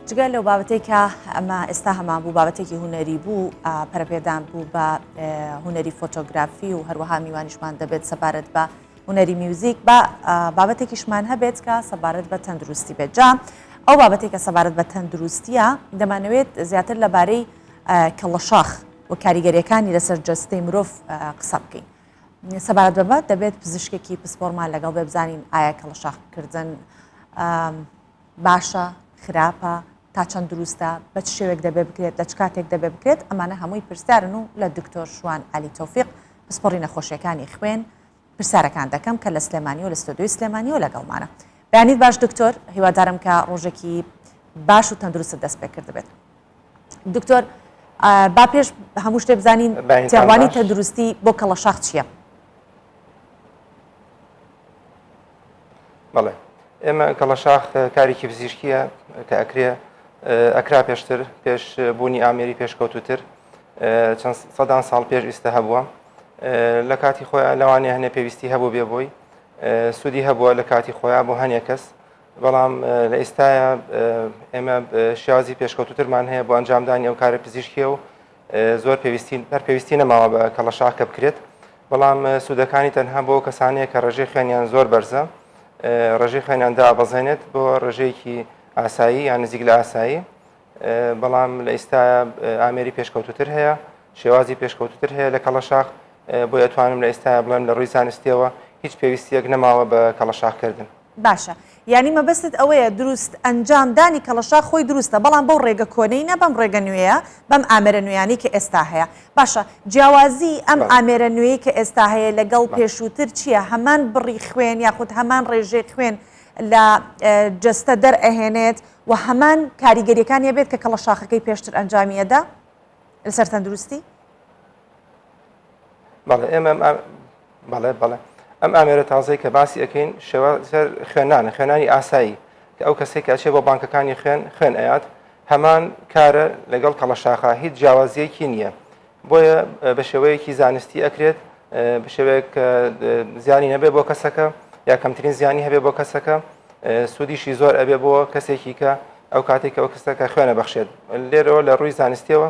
جگە لەو بابەتەی کە ئەمە ئێستا هەمان بوو بابەتێکی هوەری بوو پەرپێدان بوو بە هوەری فۆتۆگرافی و هەروەها میوانیشمان دەبێت سەبارەت بە هوەری میوزیک بە بابەتێکیشمان هەبێت کە سەبارەت بە تەندروستی بێت جا ئەو بابەتێک کە سەبارەت بە تەندروستیە دەمانەوێت زیاتر لەبارەی کەڵەشاخ و کاریگەریەکانی لەسەر جەستەی مرۆڤ قسە بکەین سەبارەت بەمە دەبێت پزیشکێکی پسپۆرمان لەگەڵ بێ بزانین ئایا کەڵشاخکردن باشە خراپە تا چەند دروستە بە چ شێوێک دەبێ بکرێت لە چ کاتێک دەبێ بکرێت ئەمانە هەمووی پرسیارن و لە دکتۆر شوان علی تۆفیق پسپۆڕی نەخۆشیەکانی خوێن پرسیارەکان دەکەم کە لە سلێمانی و لە ستۆدیۆی سلێمانی و لەگەڵمانە بەیانیت باش دکتۆر هیوادارم کە ڕۆژێکی باش و تەندروست دەست پێ کرد بێت دکتۆر با پێش هەموو شتێ بزانین تێڕوانی تەندروستی بۆ کەڵەشاخ چییە؟ بەڵێ ئێمە کەڵەشاخ کارێکی پزیشکیە کە ئەکرێ ئەکرا پێشتر پێش بوونی ئامێری پێشکەوتوتر چەند سەدان ساڵ پێش ئیستا هەبووە لە کاتی خۆیان لەوانێ هەنێ پێویستی هەبوو بێ بۆی سوودی هەبووە لە کاتی خۆیان بۆ هەنێ کەس بەڵام لە ئیستایا ئێمە شێوازی پێشکەوتوترمان هەیە بۆ ئەنجامدانی ئەو کارە پزیشکیە و زۆر پێویستی هەر پێویستی نەماوە بە کەڵەشاخ کە بکرێت بەڵام سوودەکانی تەنها بۆ کەسانەیە کە ڕێژەی خوێنیان زۆر بەرزە ڕێژەی خوێنیان دابەزێنێت بۆ ڕێژەیەکی ئاسایی یان نزیک لە ئاسایی بەڵام لە ئیستا ئامێری پێشکەوتتر هەیە شێوازی پێشکەوتتر هەیە لە کەڵەشاخ بۆ ئەتوانم لە ئێستا بڵێم لە ڕووی زانستیەوە هیچ پێویستیەک نەماوە بە کەڵەشاخکردن باشە یانی مەبەستت ئەوەیە دروست ئەنجام دانی کەڵەشاخ خۆی دروستە بەڵام بەو ڕێگە کۆنەی نە بەم ڕێگە نوێیە بەم ئامێرە نوێیانەی کە ئێستا هەیە باشە جیاوازی ئەم بەڵێ ئامێرە نوێی کە ئێستا هەیە لەگەڵ بەڵێ پێشووتر چیە هەمان بڕی خوێن یاخود هەمان ڕێژەی خوێن لە جەستە دەر ئەهێنێت وە هەمان کاریگەریەکانی ئەبێت کە کەڵەشاخەکەی پێشتر ئەنجامی ئەدا لەسەر تەندروستی؟ بەڵێ ئێمە بەڵێ بەڵێ ئەم ئامێرە تازەی کە باسی ئەەکەین شێوە خوێنانە خوێنانی ئاسایی کە ئەو کەسێک کەچێ بۆ بانکەکانی خوێن خوێن ئەات هەمان کارە لەگەڵ کەڵەشاخە هیچ جیاوازیەکی نییە بۆیە بە شێوەیەکی زانستی ئەکرێت بە شێوەیەک زیانی نەبێ بۆ کەسەکە یا کەمترین زیانی هەبێ بۆ کەسەکە سوودیشی زۆر ئەبێ بۆ کەسێکی کە ئەو کاتێک ئەو کەسەکە خوێنە بەخشێت لێرەوە لە ڕووی زانستیەوە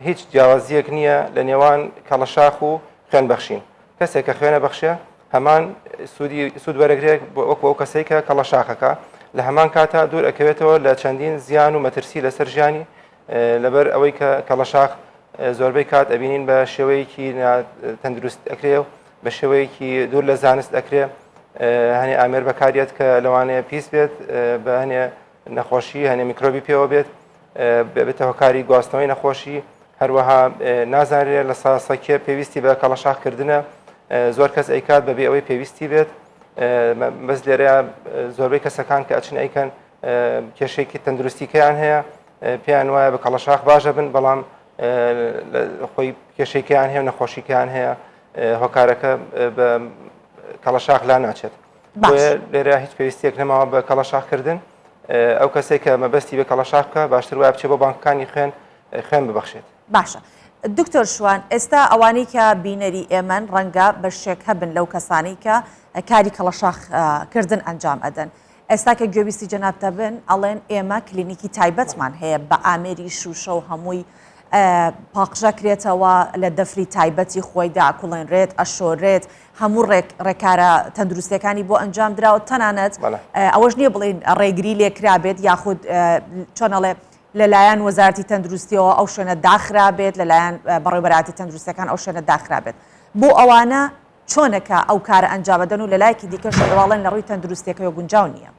هیچ جیاوازییەک نییە لە نێوان کەڵەشاخ و خوێن بەخشین کەسێک کە خوێنە بەخشێ هەمان سوودی سوود وەرەگرێک وەکو ئەو کەسەی کە کەڵە شاخەکە لە هەمان کاتا دوور ئەکەوێتەوە لە چەندین زیان و مەترسی لەسەر ژیانی لەبەر ئەوەی کە کەڵە شاخ زۆربەی کات ئەبینین بە شێوەیەکی تەندروست ئەکرێ و بە شێوەیەکی دوور لە زانست ئەکرێ هەنێ ئامێر بەکاریت کە لەوانەیە پیس بێت بە هەنێ نەخۆشی هەنێ میکرۆبی پێوە بێت بێتە هۆکاری گواستنەوەی نەخۆشی هەروەها نازانرێت لە ساسەکیە پێویستی بە کەڵەشاخکردنە زۆر کەس ئەیکات بەبێ ئەوەی پێویستی بێت بەس لێرە زۆربەی کەسەکان کە ئەچن ئەیکەن کێشێکی تەندروستیکەیان هەیە پێیان وایە بە کەڵەشاخ باشە بن بەڵام خۆی کێشێکیان هەیە نەخۆشیکان هەیە هۆکارەکە بە کەڵەشاخ لا ناچێت بۆیە لێرە هیچ پێویستێک نەماوە بە کەڵەشاخکردن ئەو کەسێک کە مەبەستی بە کەڵەشاخ بکە باشتر وای بچێ بۆ بانکەکانی خوێن خوێن ببەخشێت باشە دکتۆر شوان ئێستا ئەوانەی کە بینەری ئێمەن ڕەنگە بە شێک هەبن لەو کەسانەی کە کاری کەڵەشاخکردن ئەنجام ئەدەن ئێستا کە گوێویستی جەنابتە بن ئەڵێن ئێمە کلینیکی تایبەتمان هەیە بە ئامێری شوشە و هەمووی پاقژەکرێتەوە لە دەفری تایبەتی خۆیدا کوڵێنرێت ئەشۆرێت هەموو ڕێک ڕێکارە تەندروستەکانی بۆ ئەنجام دراوە تەنانەت ئەوەش نییە بڵین ڕێگری لێکرابێت یاخود چۆنەڵێ لەلایەن وەزارتی تەندروستیەوە ئەو شوێنە داخرابێت لەلایەن بەڕێبەراتی تەندروستەکان ئەو شوێنە داخرابێت بۆ ئەوانە چۆنەکە ئەو کارە ئەنجامەدەن و لەلایەکی دیکە شواڵن لە ڕووی تەندروستەکەەوە گونجاو نییە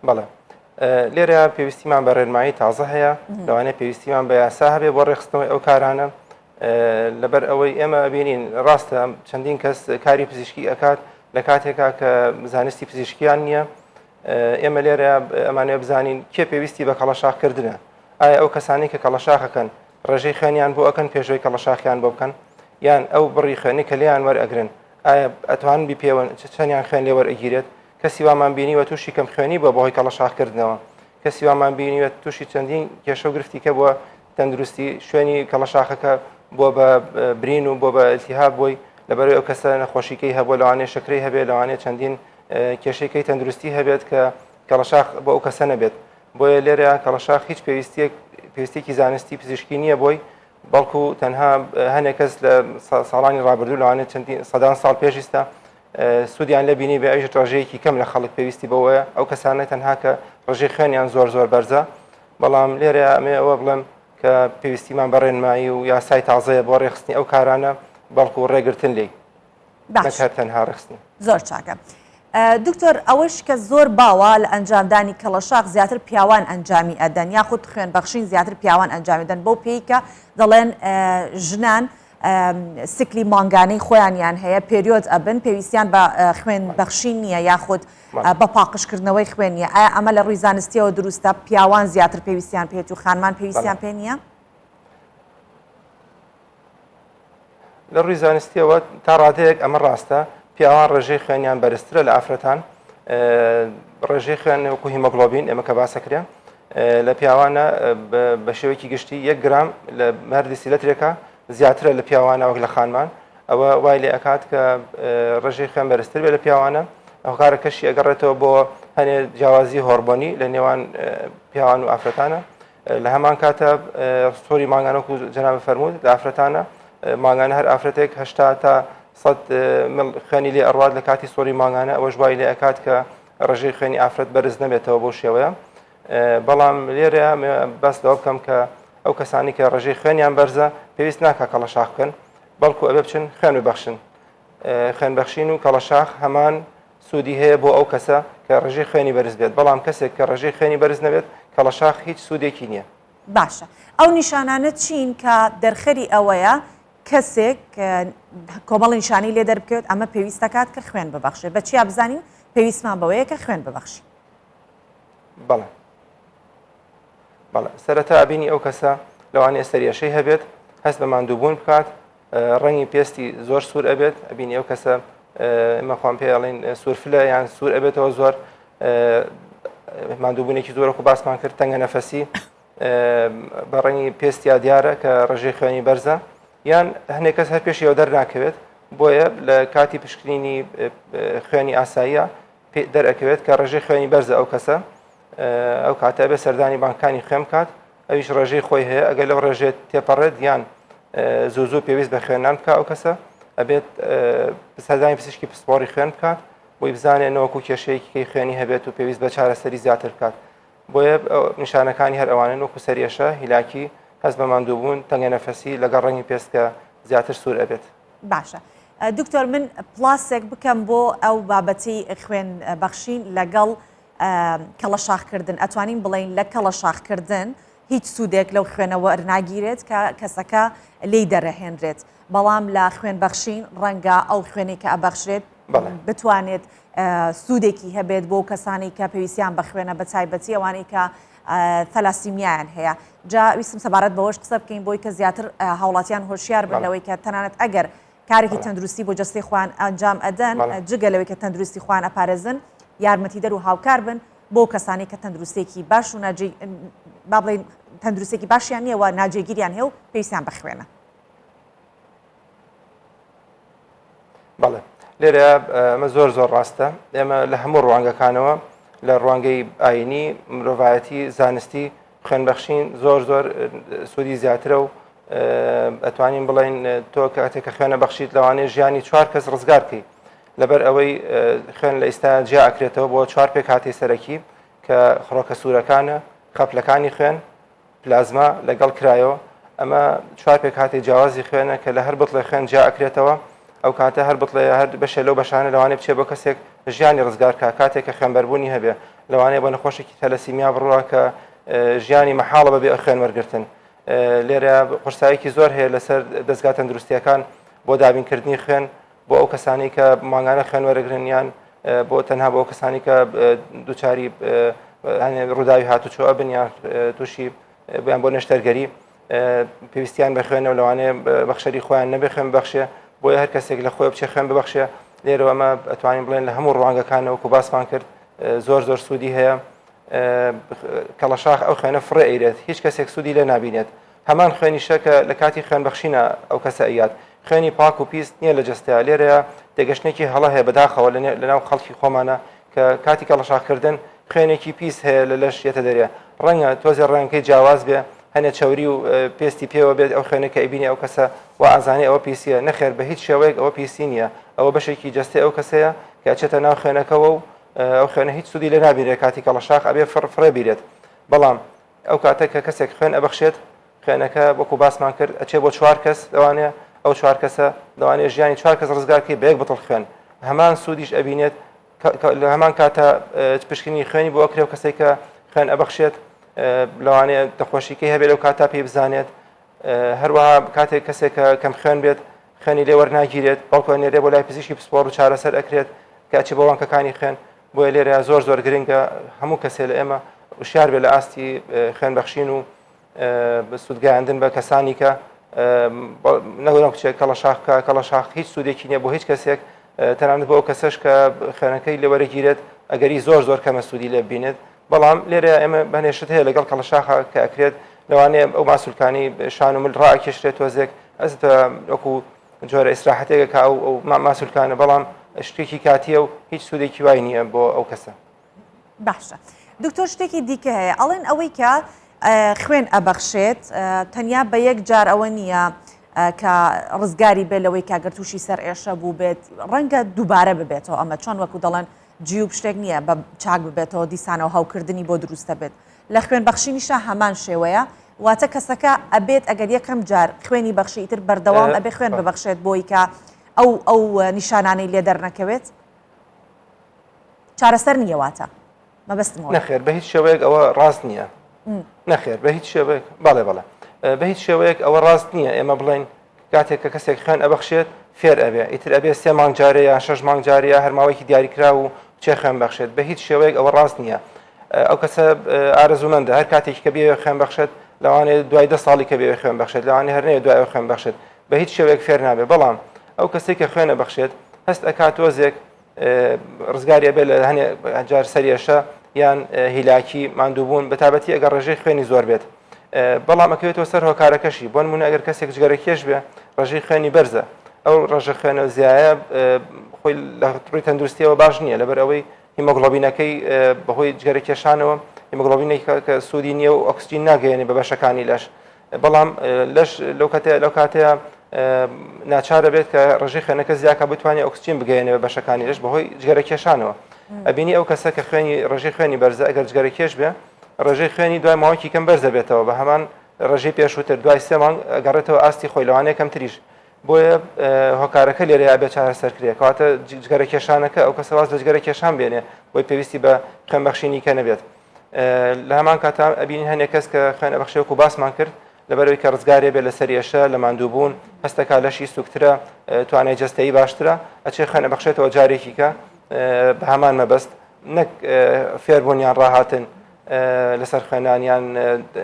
بەڵێ لێرە پێویستیمان بە ڕێنمایی تازە هەیە لەوانەیە پێویستیمان بە یاسا هەبێ بۆ ڕێخستنەوەی ئەو کارانە لەبەر ئەوەی ئێمە بینین ڕاستە چەندین کەس کاری پزیشکی ئەکات لە کاتێکا کە زانستی پزیشکیان نییە ئێمە لێرە ئەمانە بزانین کێ پێویستی بە کەڵەشاخکردنە ئایا ئەو کەسانی کە کەڵەشاخەکەن ڕێژەی خوێنیان بۆ ئەەکەن پێشوەی کەڵەشاخیان بۆ بکەن یان ئەو بڕی خوێنی کە لێیان وەرئەگرن ئایا ئەتوان بپێوەن چەندیان خوێن لێوەرئەگیرێت کەسی وامان بینیوە تووشی کەم خوێنی بووە بەهۆی کەڵە شاخکردنەوە کەسی وامان بینیوە تووشی چەندین کێشە و گرفتی کە بووە تەندروستی شوێنی کەڵە شاخەکە بۆ بە برین و بۆ بە ئەلتیها بووی لەبەرەوەی ئەو کەسە نەخۆشیکەی هەبوو لەوانێ شکری هەبێت لەوانێ چەندین کێشەکەی تەندروستی هەبێت کە کەڵەشاخ بۆ ئەو کەسە نەبێت بۆیە لێرە کەڵەشاخ هیچ پێویستێک پێستێکی زانستی پزیشکی نییە بۆی بەڵکو تەنها هەنێک کەس لە ساڵانی ڕابردوو لەوانێت چەندی سەدان ساڵ پێشیستا سوودیان لێ بینی بێ ئەویش ڕێژەیەکی کەم لە خەڵک پێویستی بەوەیە ئەو کەسانە تەنها کە ڕژێ خوێنیان زۆر زۆر بەرزە بەڵام لێرە ئەمێ ئەوە بڵێم کە پێویستیمان بە ڕێنمایی و یاسای تازەیە بۆ ڕێخستنی ئەو کارانە بەڵکو و ڕێگرتن لی باشهر تەنها ڕخستن زۆر چاکە. دکتۆر ئەوەش کە زۆر باوە لە ئەنجامدانی کەڵەشاخ زیاتر پیاوان ئەنجامی ئەدەن یاخود خوێن بەخشین زیاتر پیاوان ئەنجامیدەن بەو پێیکە دەڵێن ژنان سکلی مانگانەی خۆیانیان هەیە پێریۆد ئەبن پێویستیان بە خوێن بەخشین نییە یاخود بە پاقشکردنەوەی خوێن نیە ئایا ئەمە لە ڕووی زانستیەوە دروستە پیاوان زیاتر پێویستیان پێێت و خانمان پێویستیان پێ نییە؟ لە ڕووی زانستیەوە تا ڕادەیەک ئەمە ڕاستە پیاوان ڕێژەی خوێنیان بەرزترە لە ئافرەتان ڕێژەی خوێن وەکو هیمۆگلۆبین ئێمە کە باسەکرێن لە پیاوانە بە شێوەیەکی گشتی یەک گرام لە هەر دیسیلەترێکە زیاترە لە پیاوانە وەک لە خانمان ئەوە وای لێ ئەکات کە ڕژێ خوێن بەرزتر بێ لە پیاوانە ئەو کارە کەشی ئەگەڕێتەوە بۆ هەنێ جیاوازی هۆربۆنی لە نێوان پیاوان و ئافرەتانە لە هەمان کاتە سۆری ماگانەک و جەناب فەرموود لە ئافرەتانە ماگانە هەر ئافرەتێک هشتا تا سەد خوێنی لێ ئەڕات لە کاتی سۆری ماگانە ئەوەش وای لێ ئەکات کە ڕێژەی خوێنی ئافرەت بەرز نەبێتەوە بەو شێوەیە بەڵام لێرە باس لەوە بکەم کە ئەو کەسانی کە ڕێژەی خوێنیان بەرزە پێویست ناکە کەڵە شاخ بکەن بەڵکو ئەبێ بچن خوێن ببەخشن خوێن بەخشین و کەڵە شاخ هەمان سوودی هەیە بۆ ئەو کەسە کە ڕێژەی خوێنی بەرز بێت بەڵام کەسێک کە ڕێژەی خوێنی بەرز نەبێت کەڵە شاخ هیچ سوودێکی نییە باشە ئەو نیشانانە چین کە دەرخەری ئەوەیە کەسێک کۆمەڵی نیشانی لێ دەربکەوێت ئەمە پێویست دەکات کە خوێن ببەخشێت بە چیا بزانین پێویستمان بەوەیە کە خوێن ببەخشی بەڵێ بەڵێ سەرەتا بینی ئەو کەسە لەوانێ سەریەشەی هەبێت هەست بە ماندووبوون بکات ڕەنگی پێستی زۆر سوور ئەبێت ئەبینی ئەو کەسە مەخوام پێڵین سوورفلە یان سوور ئەبێتەوە زۆر ماندووبوونێکی زۆرەکو باسمان کرد تەنگە نەفەسی بە ڕەنگی پێستیا دیارە کە ڕژێ خوێنی بەرزە یان هەنێک کەس هەر پێشیەوە دەرناکەوێت بۆیە لە کاتی پشکنینی خوێنی ئاساییە دەرەکەوێت کە ڕێژەی خوێنی بەرزە ئەو کەسە ئەو کاتە بێ سەردانی بانکانی خوێن کات ئەویش ڕێژەی خۆی هەیە ئەگەر لەو ڕێژێت تێپەڕێت یان زوو زوو پێویست بە خوێنان بکە ئەو کەسە ئەبێت سەردانی پزیشکی پسپۆری خوێن بکات بۆی بزانێت نەوەکو کێشەیەکی خوێنی هەبێت و پێویست بە چارەسەری زیاتر بکات بۆیە نیشانەکانی هەر ئەوانن وەکو سەرئێشە، هیلاکی، هەست بە ماندووبوون، تەنگەنەفەسی لەگەڵ ڕەنگی پێست کە زیاتر سوور ئەبێت. باشە دکتۆر من پلاسێک بکەم بۆ ئەو بابەتی خوێن بەخشین لەگەڵ کەڵەشاخکردن ئەتوانین بڵین لە کەڵەشاخکردن هیچ سوودێک لەو خوێنەوە ئەرناگیرێت کە کەسەکە لی دەرەهێنرێت بەڵام لە خوێن بەخشین ڕەنگە ئەو خوێنی کە ئەبەخشرێت بتوانێت سوودێکی هەبێت بۆ کەسانی کە پێویستیان بە خوێنە بە تایبەتی ئەوانەی کە تەلاسیمیایان هەیە جا ویستم سەبارەت بەوەش قسە بکەین بۆی کە زیاتر هاوڵاتیان هۆشیار بن لەوەی کە تەنانەت ئەگەر کارێکی تەندروستی بۆ جستی خوان ئەنجام ئەدەن جگە لەوەی کە تەندروستی خوان ئەپارێزن یارمەتی دەر و هاوکار بن بۆ کەسانی کە تەندروستێکی باش و با بڵین تەندروستێکی باشیان نییەوە ناجێگیریان هێ و پێیسان بخوێنە بەڵێ لێرە ئەمە زۆر زۆر ڕاستە ئێمە لە هەموو ڕوانگەکانەوە لە ڕوانگەی ئاینی مرۆڤایەتی زانستی خوێنبەخشین زۆر زۆر سوودی زیاترە و ئەتوانین بڵین تۆ کاتێکە خوێنە بەخشیت لەوانەیە ژیانی چوار کەس ڕزگارکەی لەبەر ئەوەی خوێن لە ئیستا جیا ئەکرێتەوە بۆ چوار پێک هاتی سەرەکی کە خڕۆکە سوورەکانە خەپلەکانی خوێن پلازما لەگەڵ کرایۆ ئەمە چوار پێکهاتی جیاوازی خوێنە کە لە هەر بتڵێ خوێن جیا ئەکرێتەوە ئەو کاتە هەر بتڵێ هەر بەشێ لەو بەشانە لەوانێ بچێ بۆ کەسێک ژیانی ڕزگار کا کاتێک کە خوێنبەربوونی هەبێ لەوانەیە بۆ نەخۆشێکی تەلەسیمیا بڕوە کە ژیانی مەحاڵە بەبێ ئە خوێن وەرگتن لێرە قورسایەکی زۆر هەیە لەسەر دەستگا تەندروستیەکان بۆ دابینکردنی خوێن بۆ ئەو کەسانی کە مانگانە خوێن وەرەگرن یان بۆ تەنها بۆ کەسانی کە دوچاری ڕووداوی هاتوچۆ ئەبن یان تووشی بیان بۆ نەشتەرگەری پێویستیان بە خوێنەوە لەوانەیە بەخشەری خۆیان نەبێ خوێن بەخشێ بۆ هەر کەسێک لە خۆی بچێ خوێن ببخشێ لێرەوە ئەمە ئەتوانین بڵێن لە هەموو ڕوانگەکانەوە و باسمان کرد زۆر زۆر سوودی هەیە کەڵەشاخ ئەو خوێنە فڕێ ئەیرێت هیچ کەسێک سوودی لێ نبینێت هەمان خوێنیشە کە لە کاتی خوێن بەخشینە ئەو کەسە ئەیات خوێنی پاک و پیس نییە لە جستەیە لێرەیە تێگەشتێکی هەڵە هەیە بەداخەوە لە ناو خەڵکی خۆمانە کە کاتی کەڵەشاخکردن خوێنێکی پیس هەیە لە لەش یەتە دەرێ ڕەنگە تۆزێ ڕەنگەکەی جیاواز بێ هەنێ چاوری و پێستی پێوە بێت ئەو خوێنە کە ئەبینی ئەو کەسە و ئازانی ئەوە پیسیە نەخێر بە هیچ شێوەیەک ئەوە پیسی نییە ئەوە بەشێکی جستەی ئەو کەسەیە کە چێتە ناو خوێنەکەەوە و ئەو خوێنە هیچ سودی لە نابیرێ کاتی کەڵەشاخ ئەبێ فڕ فڕێ بیرێت بەڵام ئەو کاتە کە کەسێک خوێن ئەبەخشێت، خوێنەکە وەکو باسمان کرد ئەچێ بۆ چوار کەس، لەوانەیە ئەو چوار کەسە لەوانەیە ژیانی چوار کەس ڕزگار بکەی بە یەک بتڵ خوێن، هەمان سوودیش ئەبینێت لە هەمان کاتە پشکنینی خوێنی بۆ ئەکرێ و کەسێک کە خوێن ئەبەخشێت لەوانەیە نەخۆشیکەی هەبێت لەو کاتا پێی بزانێت هەروەها کاتێک کەسێک کە کەم خوێن بێت خوێنی لێ وەرناگیرێت بەڵکو نێرێ بۆ لای پزیشکی پسپۆڕ و چارەسەر ئەکرێت کە چی بۆ وانکەکانی خوێن بۆیە لێرە زۆر زۆر گرنگە هەموو کەسێ لە ئێمە وشار بێ لە ئاستی خوێنبەخشین و سوودگەیاندن بە کەسانی کە نەگەڵم کچێک کەڵە شاخکە کەڵە شاخ هیچ سوودێکی نییە بۆ هیچ کەسێک تەنانەت بۆ ئەو کەسەش کە خوێنەکەی لە وەرەگیرێت ئەگەری زۆر زۆر کەمە سوودی لێ بینێت بەڵام لێرە ئێمە بەنێشت هەیە لەگەڵ کەڵە شاخە کە ئەکرێت لەوانەیە ئەو ماسولکانی شان و مل ڕاکێشرێت تۆزێک ئەس وەکو جۆرە ئیسراحەتێکە کە ئەو ئەو ما- ماسولکانە بەڵام شتێکی کاتیە و هیچ سوودێکی وای نییە بۆ ئەو کەسە باشە دکتۆر شتێکی دیکە هەیە ئەڵێن ئەوەی کە ئە، خوێن ئەبەخشێت ئە، تەنیا بە یەک جار ئەوە نییە ئە، کە ڕزگاری بێت لەوەی کاگەر تووشی سەر ئێشە بوو بێت ڕەنگە دووبارە ببێتەوە ئەمە چۆن وەکو دەڵێن جیوب شتێک نییە بە چاک ببێتەوە دیسانەوە هەوکردنی بۆ دروستە بێت لە خوێن بەخشینیشا هەمان شێوەیە واتە کەسەکە ئەبێت ئەگەر یەکەم جار خوێنی بەخشی ئیتر بەردەوام ئەبێ خوێن ببەخشێت بۆی کە ئەو ئەو نیشانانەی لێ دەرنەکەوێت چارەسەر نییە واتە مەبەستمەوە نەخێر بە هیچ شێوەیەک ئەوە ڕاست نییە نەخێر بە هیچ شێوەیەک بەڵێ بەڵێ بە هیچ شێوەیەک ئەوە ڕاست نییە ئێمە بڵێن کاتێک کە کەسێک خوێن ئەبەخشێت فێر ئەبێ ئیتر ئەبێ سێ مانگ جارێ یان شەش مانگ جارێ یا هەر ماوەیەکی دیاریکراو و بچێ خوێن بەخشێت بە هیچ شێوەیەک ئەوە ڕاست نییە ئەو کەسە ئارەزومەندە هەر کاتێکی کە بێوێ خوێن بەخشێت لەوانێ دوای دە ساڵی کە بێوێ خوێن بەخشێت لەوانێ هەر نەیە دوای خوێن بەخشێت بە هیچ شێوەیەک فێر نابێ بەڵام ئەو کەسێک کە خوێنە بەخشێت هەست ئەکات تۆزێک ڕزگاری ئەبێت لە هەنێ جار سەرێشە یان هیلاکی ماندووبوون بە تابەتی ئەگەر ڕێژەی خوێنی زۆر بێت بەڵام ئەکەوێتەوە سەر هۆکارەکەشی بۆن منە ئەگەر کەسێک جگەرەکێش بێ ڕژەی خوێنی بەرزە ئەو ڕژە خوێنە زیایە خۆی لە ڕووی تەندروستیەوە باش نییە لەبەر ئەوەی هیمۆگلۆبینەکەی بەهۆی جگەرە کێشانەوە هیمۆگلۆبینێک کە سوودی نییە و ئۆکسسیین ناگەێنێ بە بەشەکانی لەش بەڵام لەش لەو کاتەیە لەو کاتەیە ناچار دەبێت کە ڕژی خوێنەکە زیاکە بتوانێت ئۆکسسیین بگەێنەوە بەشەکانی لەش بەهۆی جگەرە کێشانەوە ئەبینی ئەو کەسە کە خوێنی ڕژی خوێنی بەرزە ئەگەر جگەرە کێش بێ ڕژەی خوێنی دوای ماوەکی کەم بەرز دەبێتەوە بە هەمان ڕژی پێشووتر دوای سێمان گەڕێتەوە ئاستی خۆی لەوانەیە کەم تریش بۆیە هۆکارەکە لێرە یا بێ چارە سەرکرێ کەواتە جگەرە کێشانەکە ئەو کەسەواز لە جگەرە کێشان بێنێ بۆی پێویستی بە خوێنبەخشینی کە نەبێت لە هەمان کاتا ئەبینین هەندێک کەس کە خوێن ئەبخشێ وەکو باسمان کرد لەبەرەوەی کە ڕزگارێ بێ لەسەر ێشە لە ماندووبوون هەستەکە لەشی سوکترە توانای جستەی باشترە ئەچێ خوێن ئەبخشێتەوە جارێکی کە بە هەمان مەبەست نەک فێربوونیان ڕاهاتن لەسەر خوێنانیان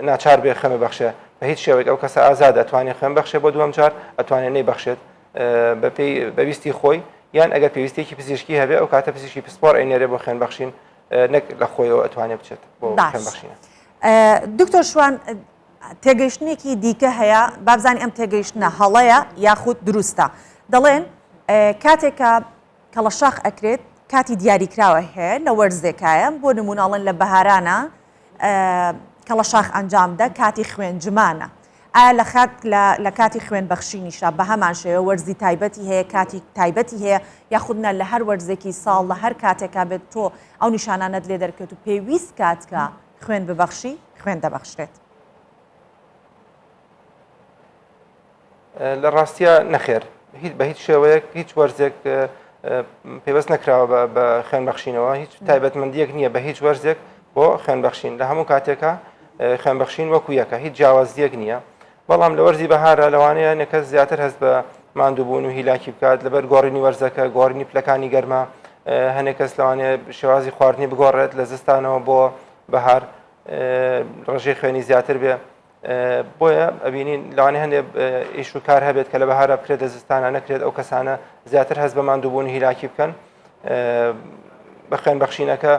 ناچار بێ خوێن بەخشێ بە هیچ شێوەیەک ئەو کەسە ئازاد ئەتوانێت خوێن بەخشێ بۆ دووەم جار ئەتوانێت نەی بەخشێت بەپی بەویستی خۆی یان ئەگەر پێویستێکی پزیشکی هەبێ ئەو کاتە پزیشکی پسپۆر ئەینێرێ بۆ خوێن بەخشین نەک لە خۆیەوە ئەتوانێت بچێت بۆ بەخشینە دکتۆر شوان تێگەیشتنێکی دیکە هەیە بابزانانی ئەم تێگەیشتە هەڵەیە یاخود دروستە دەڵێن کاتێکە کەڵەشاخ ئەکرێت کاتی دیاریکراوە هەیە لە وەرزێکایە بۆ نموناڵن لە بەهارانە کەڵەشاخ ئەنجام دە کاتی خوێن جمانە. ئایا لە خات لە کاتی خوێن بەخشینیشا بە هەمان شێوە وەرزی تایبەتی هەیە کاتی تایبەتی هەیە یاخودنا لە هەر وەرزێکی ساڵ لە هەر کاتێکا بێت تۆ ئەو نیشانانەت لێ دەرکەوت و پێویست کاتکە خوێن ببەخشی خوێن دەبەخشرێت. لە ڕاستیە نەخێر هیچ بە هیچ شێوەیەک هیچ وەرزێک پێوەست نەکراوە بە خوێن بەخشینەوە هیچ تایبەتمەندیەک نییە بە هیچ وەرزێک بۆ خوێن بەخشین لە هەموو کاتێکە خوێن بەخشین وەکو یەکە هیچ جیاوازیەک نییە بەڵام لە وەرزی بەهارە لەوانەیە نەکە زیاتر هەست بە ماندووبوون و هیلاکی بکات لەبەر گۆڕینی وەرزەکە گۆڕینی پلەکانی گەرمە هەنێک کەس لەوانێ شێوازی خواردنی بگۆڕێت لە زستانەوە بۆ بەهار ڕژێ خوێنی زیاتر بێ بۆیە ئەبینین لەوانێ هەندێ ئیش و کار هەبێت کە لە بەهارە بکرێت لە زستانە نەکرێت ئەو کەسانە زیاتر هەست بە ماندووبوون هیلاکی بکەن بە خوێن بەخشینەکە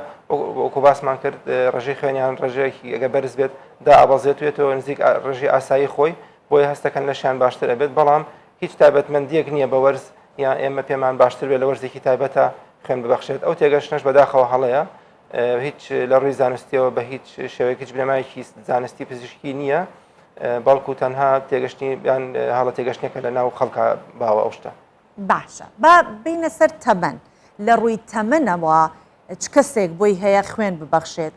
وەکو باسمان کرد ڕژەی خوێنیان ڕژەیەکی ئەگە بەرز بێت دا ئابازێت وێتەوە نزیک ڕژی ئاسایی خۆی بۆیە هەستەکەن لەشیان باشتر ئەبێت بەڵام هیچ تابەتمەندیەک نییە بە وەرز یان ئێمە پێمان باشتر بێت لە وەرزێکی تایبەتە خوێن ببەخشێت ئەو تێگەشتنەش بەداخەوە هەڵەیە هیچ لە ڕووی زانستیەوە بە هیچ شێوەیەک هیچ بنەمایکی زانستی پزیشکی نییە بەڵکو تەنها تێگەشتنی یان هەڵە تێگەشتێکە لە ناو خەڵکە باوە ئەو شتە باشە با بینە سەر تەمەن لە ڕووی تەمەنەوە چ کەسێک بۆی هەیە خوێن ببەخشێت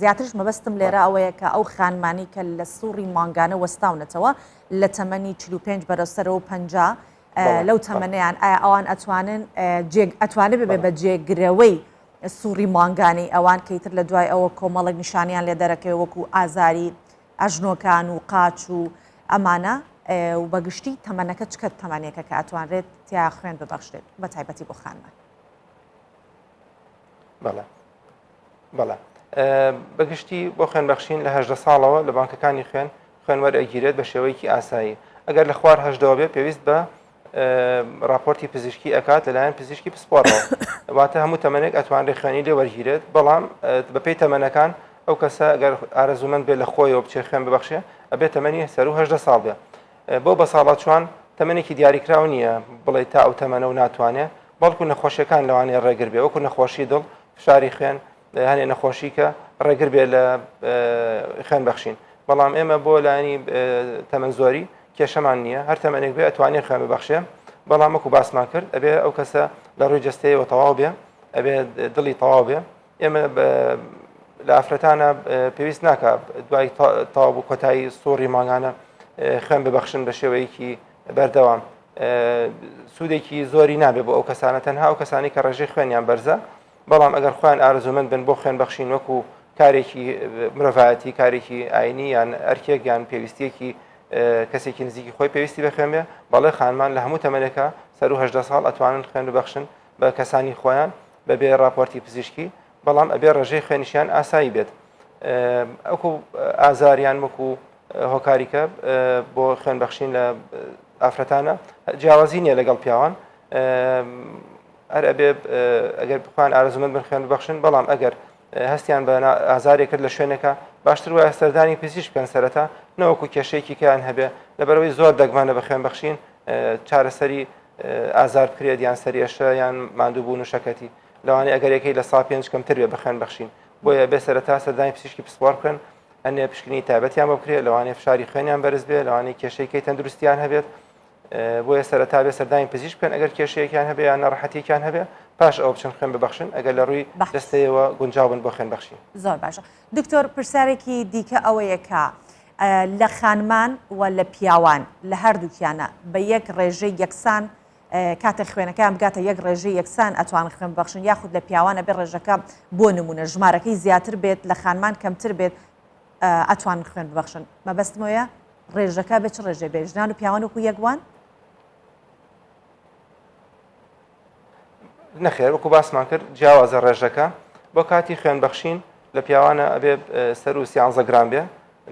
زیاترش مەبەستم لێرە ئەوەیە کە ئەو خانمانی کە لە سوڕی مانگانە وەستاونەتەوە لە تەمەنی 45 بەرەسەرەوە پ لەو تەمەنیان ئایا ئەوان ئەتوانن ئەتوانێت ببێ بە جێگرەوەی سوڕی مانگانەی ئەوان کە ئیتر لە دوای ئەوە کۆمەڵێک نیشانیان لێ دەرەکەوێ وەکو ئازاری ئەژنۆکان و قاچ و ئەمانە و بەگشتی تەمەنەکە چکە تەمەنێکە کە ئەتوانرێت تیا خوێن ببەخشێت بە تایبەتی بۆ خانمان بەڵێ بەڵێ بەگشتی بۆ خوێنبەخشین لە هەدە ساڵەوە لە بانکەکانی خوێن خوێنوەر ئەگیرێت بە شێوەیەکی ئاسایی ئەگەر لە خوار هەشدەوە بێ پێویست بە راپۆرتی پزیشکی ئەکات لەلایەن پزیشکی پسپۆڕەوە واتە هەموو تەمەێک ئەتوانرێ خوێنی لێ وەرگیرێت بەڵام بەپی تەمەەکان ئەو کەسە گەر ئارەزومەند بێ لە خۆیەوە بچێ خوێن ببخشێ ئەبێت تەمەنی سەرهدە ساڵ بێ بۆ بە ساڵا چوان تەمەێکی دیاریکراو نییە بڵێ تا ئەو تەمەە و ناتوانێت بەڵکو نەخۆشیەکان لەوانەیە ڕێگر بێ وەکو نەخۆشی دڵ فشاری خوێن هەنێ نەخۆشی کە ڕێگر بێت لە خوێن بەخشین بەڵام ئێمە بۆ لانی تەمەەن زۆری کێشەمان نییە هەر تەمەێک بێ ئەتوانێ خوێن ببەخشێ بەڵام وەکو باسمان کرد ئەبێ ئەو کەسە لە ڕووی جستەیەوە تەواو بێ ئەبێ دڵی تەواو بێ ئێمە لە ئافرەتانە پێویست ناکە دوای تاو بوو کۆتایی سوڕی ماگانە خوێن ببەخشن بە شێوەیەکی بەردەوام سوودێکی زۆری نابێ بۆ ئەو کەسانە تەنها ئەو کەسانی کە ڕێژەی خوێنیان بەرزە بەڵام ئەگەر خۆیان ئارەزوومەند بن بۆ خوێن بەخشین وەکو کارێکی مرۆڤایەتی کارێکی ئاینی یان ئەرکێک یان پێویستیەکی کەسێکی نزیکی خۆی پێویستی بە خوێن بێ بەڵێ خانمان لە هەموو تەمەنێکە سەر و هەدە ساڵ ئەتوانن خوێن ببەخشن بە کەسانی خۆیان بەبێ راپۆرتی پزیشکی بەڵام ئەبێ ڕێژەی خوێنشیان ئاسایی بێت ئەکو ئازاریان وەکو هۆکاریکە بۆ خوێن بەخشین لە ئافرەتانە جیاوازی نییە لەگەڵ پیاوان هەر ئەبێ ئەگەر بخوان ئارەزومەند بن خوێن ببەخشن بەڵام ئەگەر هەستیان بە ئازارێک کرد لە شوێنەکە باشتر وایە سەردانی پزیش بکەن سەرەتا نەوەکو کێشەیەکی کەیان هەبێ لەبەرەوەی زۆر دەگمانە بە خوێن بەخشین چارەسەری ئازار بکرێت یان سەرێشە یان مادووبوون و شەکەتی لەوانەیە ئەگەرەکەی لە سا پێنج کەمتر بێ بەخوێن بەخشین بۆیە بێ سەرەتا سەردانی پزیشکی پسپۆر بکەن ئەنێ پشکنی تایبەتیان بۆ بکرێت لەوانەیە فشاری خوێنیان بەرز بێ لەوانەیە کێشەیەکەی تەندروستیان هەبێت بۆیە سەرەتا بێ سەردانی پزیشک بکەن ئەگەر کێشەیەکیان هەبێ یان نەڕەحەتیەکیان هەبێ پاش ئەو بچن خوێن ببخشن ئەگەر لە ڕووی دەستەیەوە گونجاون بۆ خوێن بەخشی زۆر باشە دکتۆر پرسیارێکی دیکە ئەوەیەکە لە خانمان و لە پیاوان لە هەردووکیانە بە یەک ڕێژەی یەکسان کاتە خوێنەکان بگاتە یەک ڕێژە یەکسان ئەتوان خوێن بەخشن یاخود لە پیاوانە بێ ڕێژەکە بۆ نمونە ژمارەکەی زیاتر بێت لە خانمان کەمتر بێت ئەتوان خوێن ببخشن مەبەستمەیە ڕێژەکە بە چ ڕێژێ بێ ژنان و پیاوان وکو یەکوان نەخێر وەکو باسمان کرد جیاوازە ڕێژەکە بۆ کاتی خوێن بەخشین لە پیاوانە ئەبێ سەر و سیانزە گران بێ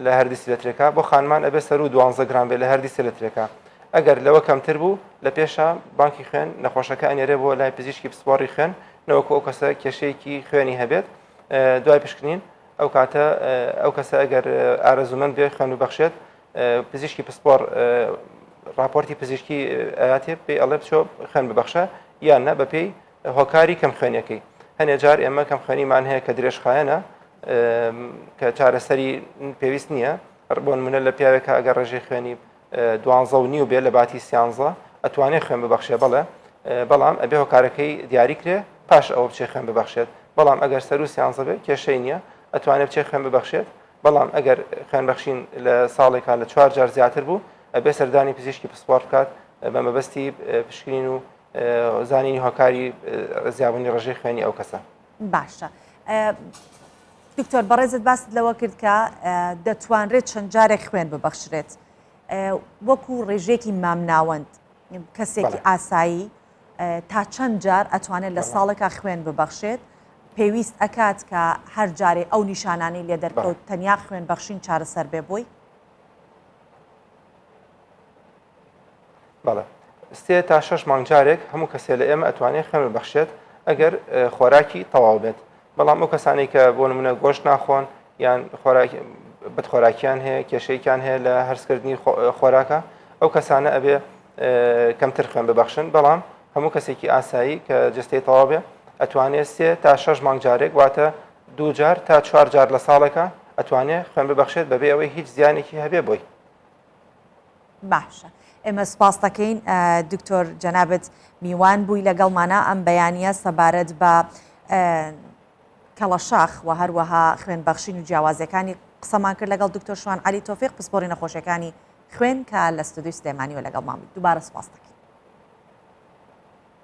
لە هەردی سلترێکا بۆ خانمان ئەبێ سەر و دوانزە گران بێ لە هەردی سلترێکا ئەگەر لەوە کەمتر بوو لە پێشە بانکی خوێن نەخۆشەکە ئەنێرێ بۆ لای پزیشکی پسپۆڕی خوێن نەوەکو ئەو کەسە کێشەیەکی خوێنی هەبێت دوای پشکنین ئەو کاتە ئەو کەسە ئەگەر ئارەزوومەند بێ خوێن ببەخشێت پزیشکی پسپۆڕ راپۆرتی پزیشکی ئااتێ پێی ئەڵێ بچۆ خوێن ببەخشە یان نە بەپێی هۆکاری کەم خوێنەکەی هەنێ جار ئێمە کەم خوێنیمان هەیە کە درێژخایەنە کە چارەسەری پێویست نییە ڕبوون منە لە پیاوێکە ئەگەر ڕێژەی خوێنی دوانزە و نیو بێ لەباتی سیانزە ئەتوانێ خوێن ببەخشێ بەڵێ بەڵام ئەبێ هۆکارەکەی دیاری کرێ پاش ئەوە بچێ خوێن ببەخشێت بەڵام ئەگەر سەر و سیانزە بێ کێشەی نییە ئەتوانێت بچێ خوێن ببەخشێت بەڵام ئەگەر خوێن بەخشین لە ساڵێکا لە چوار جار زیاتر بوو ئەبێ سەردانی پزیشکی پسپۆر بکات بە مەبەستی پشکنین و زانینی هۆکاری زیابوونی ڕژەی خوێنی ئەو کەسە باشە دکتۆر بەڕێزت باست لەوە کرد کە دەتوانرێت چەند جارێک خوێن ببەخشرێت وەکو ڕێژێکی مامناوەند کەسێکی ئاسایی تا چەند جار ئەتوانێت لە ساڵێکا خوێن ببەخشێت پێویست ئەکات کە هەر جارێ ئەو نیشانانی لێ دەرکەوت تەنیا خوێن بەخشین چارەسەر بێ بۆی بەڵێ سێ تا شەش مانگ جارێک هەموو کەسێ لە ئێمە ئەتوانێت خوێن ببەخشێت ئەگەر خۆراکی تەواو بێت بەڵام ئەو کەسانی کە بۆ نمونە گۆشت ناخۆن یان بەخۆراکیان هەیە کێشەیەکیان هەیە لە هەرسکردنی خۆراکە ئەو کەسانە ئەبێ کەمتر خوێن ببەخشن بەڵام هەموو کەسێکی ئاسایی کە جستەی تەواو بێ ئەتوانێت سێ تا شەش مانگ جارێک واتە دوو جار تا چوار جار لە ساڵێکە ئەتوانێت خوێن ببەخشێت بەبێ ئەوەی هیچ زیانێکی هەبێ بۆی باشە ئێمە سپاس دەکەین دکتۆر جەنابەت میوان بووی لەگەڵمانە ئەم بەیانە سەبارەت بە کەڵەشاخ و هەروەها خوێن بەخشین و جیاوازەکانی قسەمان کرد لەگەڵ دکتۆر شوان علی تۆفیق پسپۆری نەخۆشیەکانی خوێن کە لە ستودی سلێمانی و لەگەڵ مامی دووبارە سپاس دەکەین